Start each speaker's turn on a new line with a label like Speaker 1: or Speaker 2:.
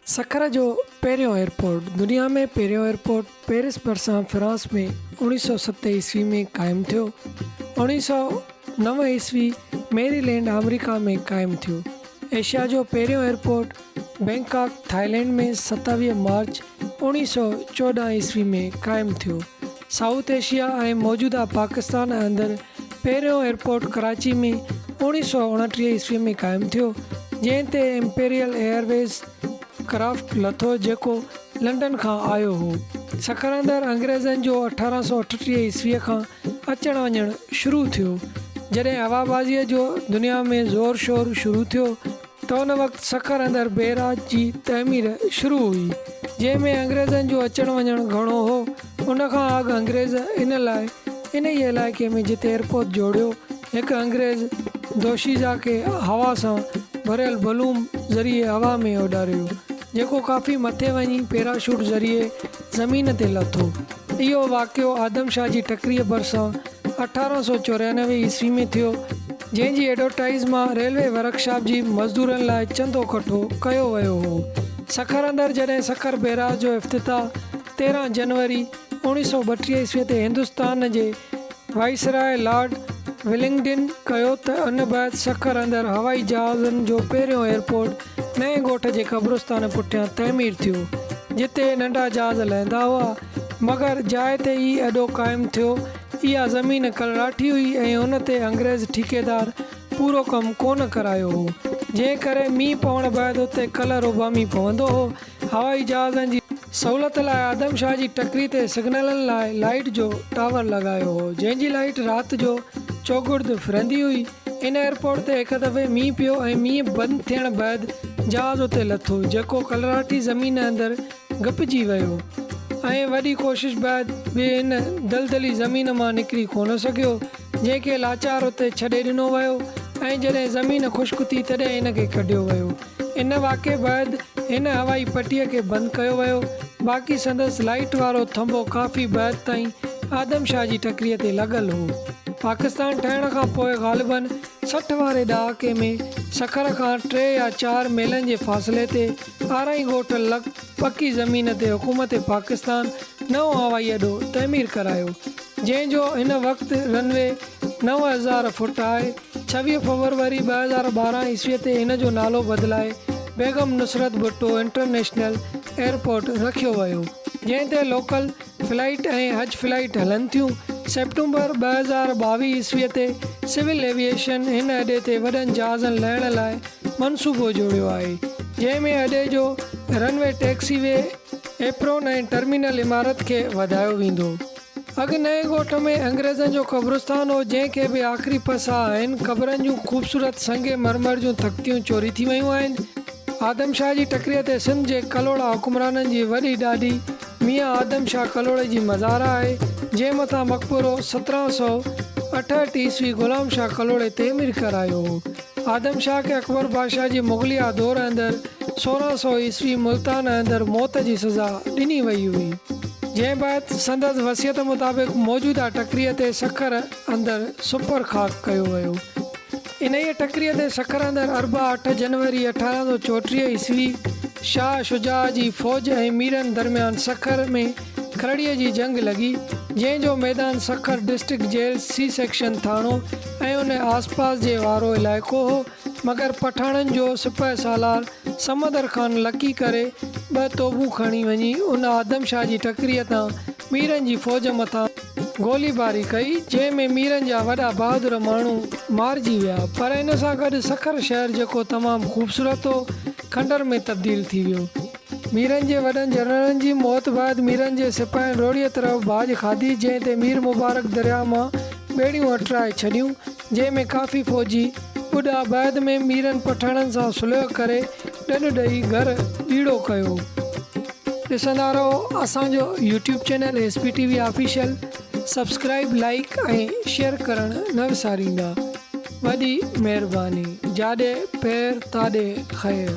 Speaker 1: سکر جو پهريون ايئرپورٽ، دنيا ۾ پهريون ايئرپورٽ پئرس ڀرسان فرانس ۾ اوڻيهه سؤ ست عيسوي ۾ قائم ٿيو. اوڻيهه سؤ نو عيسوي ميري لينڊ آمريڪا ۾ قائم ٿيو. ايشيا جو پهريون ايئرپورٽ بئنڪاڪ ٿائلينڊ ۾ ستاويهه مارچ اوڻيهه سؤ چوڏهن عيسوي ۾ قائم ٿيو. سائوٿ ايشيا ۽ موجوده پاڪستان اندر پهريون ايئرپورٽ ڪراچي ۾ اوڻيهه سؤ اڻٽيهه عيسوي ۾ قائم ٿيو، جنهن تي امپيريل ايئرويز ڪرافٽ لٿو جيڪو لنڊن کان آيو هو. سکراندر انگريزن جو اٺارهن سؤ اٺٽيهه عيسوي کان اچڻ وڃڻ شروع ٿيو، جڏهن هوابازيء جو دنيا ۾ زور شور شروع ٿيو، ته ان وقت سکر اندر بئراج جي تعمير شروع هئي، جنهن ۾ انگريزن جو اچڻ وڃڻ گهڻو هو، ان کان اڳ انگريز ان لاء انهيء علائقي ۾ جتي ايئرپوت جوڙيو، هڪ انگريز دوشيزه کي هوا سان ڀريل بلوم ذريعي هوا ۾ اڏاريو، جيڪو ڪافي مٿي وڃي پيراشوٽ ذريعي زمين تي لٿو. اهو واقعو آدم شاهه جي ٽڪريء ڀرسان اٺارهن سؤ چوريانوي عيسوي ۾ ٿيو، جنهن جي ايڊورٽائيز مان ريلوي ورڪشاپ جي مزدورن لاء چندو ڪٺو ڪيو ويو هو. سکر اندر جڏهن سکر بيراج جو افتتاح تيرهن جنوري اوڻيهه سؤ ٻٽيهه عيسوي تي هندستان جي وائسراء لارڊ ولنگڊن ڪيو ته ان بعد سکر اندر هوائي جهازن جو پهريون ايئرپورٽ نئين ڳوٺ جي قبرستان پٺيان تعمير ٿيو، جتي ننڍا جهاز لهندا هئا، مگر جاء تي ئي اڏو قائم ٿيو. اها زمين ڪلراٺي هئي ۽ ان تي انگريز ٺيڪيدار پورو ڪم ڪونه ڪرايو هو، جنهن ڪري مينهن پوڻ بعد اتي ڪلر اوڀامي پوندو هو هوائي جهازن جي سهولت لاء آدم شاهه جي ٽڪري تي سگنلن لاء لائيٽ جو ٽاور لڳايو هو جنهن جي لائيٽ رات جو چوگرد ڦرندي هئي ان ايئرپورٽ تي هڪ دفعي مينهن پيو ۽ مينهن بند ٿيڻ بعد جهاز اتي لٿو جيڪو ڪلراٺي زمين اندر گپجي ويو ۽ وڏي ڪوشش بعد به ان دلدلي زمين مان نڪري ڪونه سگهيو جنهن کي لاچار اتي ڇڏي ڏنو ويو ۽ جڏهن زمين خشڪ ٿي تڏهن ان کي ڪڍيو ويو ان واقعي بعد هن هوائي پٽيء کي بند ڪيو ويو، باقي سندس لائيٽ وارو ٿنڀو ڪافي بعد تائين آدم شاهه جي ٽڪريء تي لڳل هو. پاڪستان ٺهڻ کان پوء غالباً سٺ واري ڏهاڪي ۾ سکر کان ٽي يا چار ميلن جي فاصلي تي آرائين ڳوٺ لڳ پڪي زمين تي حڪومت پاڪستان نئون هوائي اڏو تعمير ڪرايو، جنهن جو هن وقت رن وي نو هزار فوٽ آهي. ڇويهه فوروري ٻه هزار ٻارهن عيسوي تي ان جو نالو بدلائي بيگم نصرت ڀٽو انٽرنيشنل ايئرپورٽ رکيو ويو، جنهن تي لوڪل فلائيٽ ۽ حج فلائيٽ هلن ٿيون. سيپٽمبر ٻه هزار ٻاويهه عيسوي تي سول ايويئيشن هن اڏي تي وڏن جهازن لهڻ لاء منصوبو جوڙيو آهي، جنهن ۾ اڏي جو runway, taxiway, apron ۽ terminal عمارت کي وڌايو ويندو. اڳ نئين ڳوٺ ۾ انگريزن جو قبرستان هو، جنهن کي به آخري پساهه آهن. قبرن جون خوبصورت سنگ مرمر جون تختيون چوري ٿي ويون آهن. آدم شاهه جي ٽڪريء تي سنڌ جي ڪلهوڙا حڪمرانن جي وڏي ڏاڏي ميان آدم شاهه ڪلهوڙي جي مزار آهي، جنهن مٿان مقبرو سترهن سؤ اٺهٺ عيسوي غلام شاهه ڪلهوڙي تعمير ڪرايو هو. آدم شاهه کي اڪبر بادشاهه جي مغليه دور اندر سورهن سؤ عيسوي ملتان اندر موت جي سزا ڏني وئي هئي، جنهن بعد سندس وصيت مطابق موجوده ٽڪريء تي سکر اندر سپر خاڪ ڪيو ويو. انهيء ٽڪريء تي سکر اندر اربع اٺ جنوري اٺارهن سؤ چوٽيهه عيسوي شاهه شجاع جي فوج ۽ ميرن درميان سکر ۾ کلڙيء جي جنگ لڳي، جنهن جو ميدان Sukkur district jail C section ٿاڻو ۽ ان آس پاس جي وارو علائقو هو، مگر پٺاڻن جو سپهه سالار سمندر خان لڪي ڪري ٻه توبون کڻي وڃي ان آدم شاهه جي ٽڪريء تان ميرن جي فوج مٿان گولي باري ڪئي، جنهن ۾ ميرن جا وڏا بهادر ماڻهو مارجي ويا، پر ان سان گڏ سکر شهر جيڪو تمام خوبصورت هو، کنڊر ۾ تبديل ٿي ويو. ميرن جي وڏن جنرلن جي موت بعد ميرن جي سپاهين روهڙيء طرف ڀاڄ کاڌي جنهن تي مير مبارڪ درياهه مان ٻيڙيون اٽرائي ڇڏيون جنهن ۾ ڪافي فوجي ٻڏا بعد ۾ ميرن پٺاڻن سان صلح ڪري ڏنڊ ڏئي گهر ڏيڙو ڪيو. ڏسندا رهو اسان جو YouTube channel S P T V official subscribe like ۽ share ڪرڻ نه وساريندا وڏي مهرباني جاڏي پير تاڏي خير.